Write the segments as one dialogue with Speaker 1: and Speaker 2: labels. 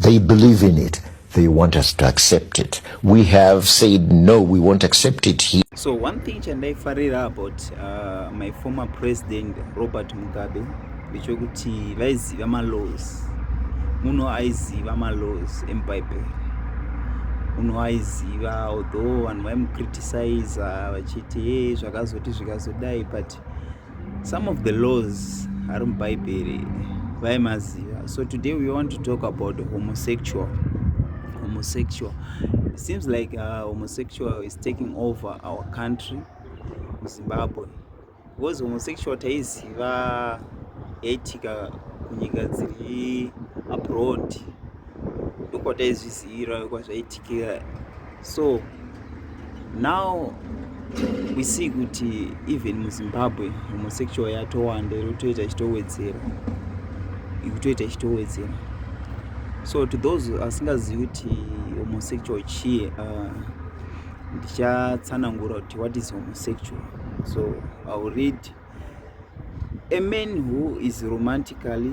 Speaker 1: They believe in it. They want us to accept it. We have said no, we won't accept it here. So one thing
Speaker 2: chandaifarira about uh, my former president Robert Mugabe ndechekuti vaiziva malows muno aiziva malows emubhaibheri muno aiziva although vanhu vaimukriticiza vachiti hey, zvakazoti zvikazodai but Some of the laws are in Bible by Maziva. So today we want to talk about homosexual. Homosexual. It seems like uh, homosexual is taking over our country, Zimbabwe. Because homosexual taiziva yaitika kunyika dziri abroad ndokwataizvizivira kwazvaitikira so now we see kuti even muzimbabwe homosexual yatowanda iri kutoita ichitowedzera ikutoita ichitowedzera so to those asingazivi kuti homosexual chii uh, ndichatsanangura kuti what is homosexual so iwill read a man who is romantically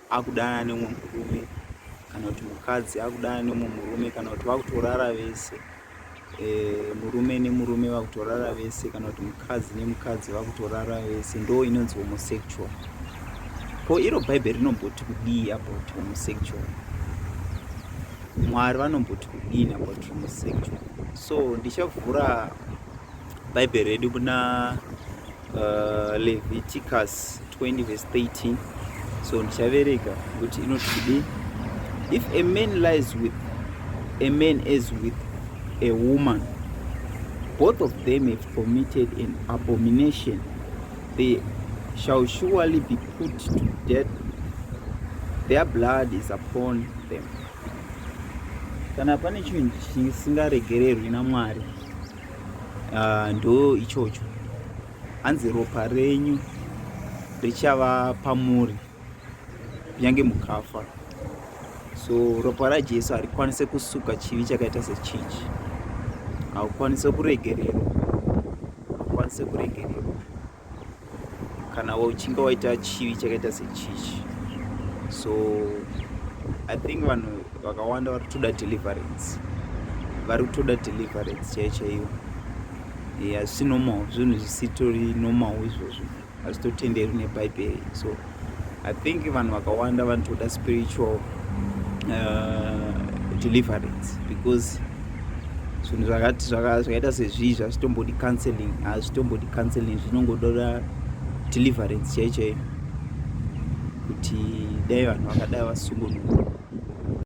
Speaker 2: akudana nemwe murume kana kuti mukadzi akudana nemwe murume kana kuti vakutorara vese e, murume nemurume vakutorara vese kana kuti mukadzi nemukadzi vakutorara vese ndo inonzi homosexual ko iro bhaibheri rinomboti kudii about homosexual mwari vanomboti kudii about homosexual so ndichavhura bhaibheri redu kuna uh, leviticus 20 verse 13 so ndichaverega kuti inoti kudii if a man lies with a man as with a woman both of them have committed an abomination they shall surely be put to death their blood is upon them kana pane chinhu chisingaregererwi namwari uh, ndo ichocho hanzi ropa renyu richava pamuri kunyange mukafa so ropa rajesu harikwanise kusuka chivi chakaita sechichi haukwanise kuregererwa haukwanise kuregererwa kana uchinge waita chivi chakaita sechichi so i think vanhu vakawanda vari kutoda deliverance vari kutoda deliverance chaiyo chaiyo asi normal zvinhu zvisitori normal izvozvo hazvitotenderwi nebhaibheri so I think vanhu vakawanda vanotoda spiritual uh, deliverance because zvinhu zvakati zvakaita sezvii zvazvitombodi counseling hazvitombodi counseling zvinongododa deliverance chaichaiyo kuti dai vanhu vakadai vasungunuka